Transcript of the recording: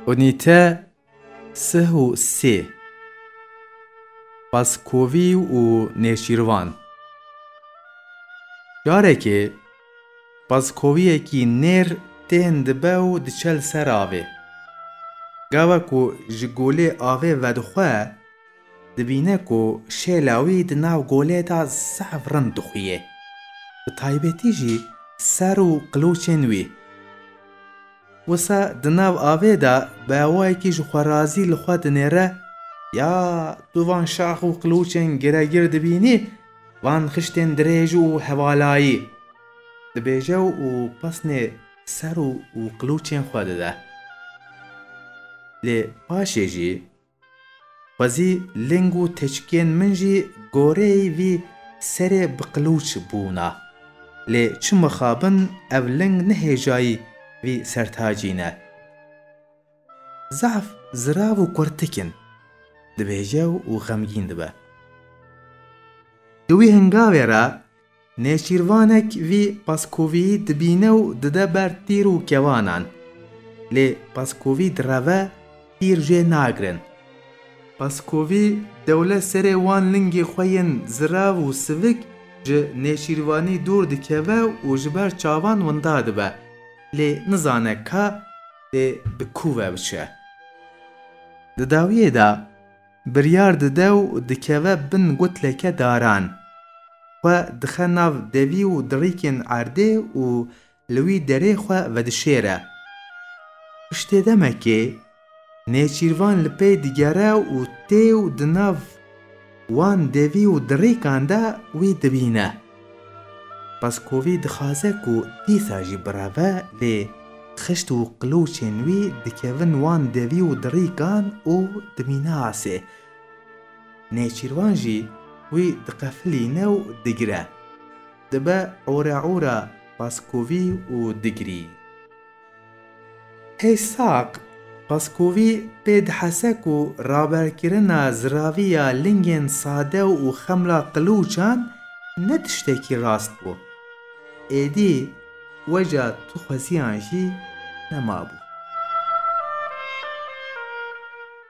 Unîte sih û sê Qaskovî û Nêşîrvan Carekê qaskoviyekî nêr tên dibe û diçe li ser avê. Gawa ku ji golê avê vedixwe, dibîne ku şêla wî di nav golê de zaf rind dixuyê. Bi taybetî jî ser û qilûçên wî. Wisa di nav avê de bawayekî ji xwe razî li xwe dinêre, Ya tu van şax û qilûçên giregir dibînî, van xiştên dirêj û hevalayî? dibêje û pesnê ser û qilûçên xwe dide. Lê paşê jî Xwezî ling û teçkiyên min jî goreyî vî serê bi qilûç bûna. Lê çi mixabin ev ling ne hêjayî vî sertacî ne. Zaf zirav û kurtik in, dibêje û xemgîn dibe. Di wî hingavê ra Nêçîrvanek vî paskoviyî dibîne û dide ber tîr û kevanan. Lê paskovî direve, tîr jê nagirin. Paskovî dewle serê wan lingê xwe yên zirav û sivik ji nêçîrvanî dûr dikeve û ji ber çavan winda dibe, lê nizane ka dê bi kû ve biçe. Di dawiyê de. Biryar dide û dikeve bin gutleke daran. Xwe dixe nav devî û dirîkên erdê û li wî derê xwe vedişêre. Piştê demekê Nêçîrvan li pey digere û tê û di nav wan devî û dirîkan de wî dibîne. Peskovî dixwaze ku dîsa jî bireve lê xişt û qilûçên wî dikevin wan devî û dirîkan û dimîne asê. Nêçîrvan jî wî diqefilîne û digire. Dibe ora ora Peskovî û digirî. Îshak Paskovî pê dihese ku raberkirina ziraviya lingên sade û xemla qilûçan ne tiştekî rast bû. Êdî weca tu xweziyan jî nemabû.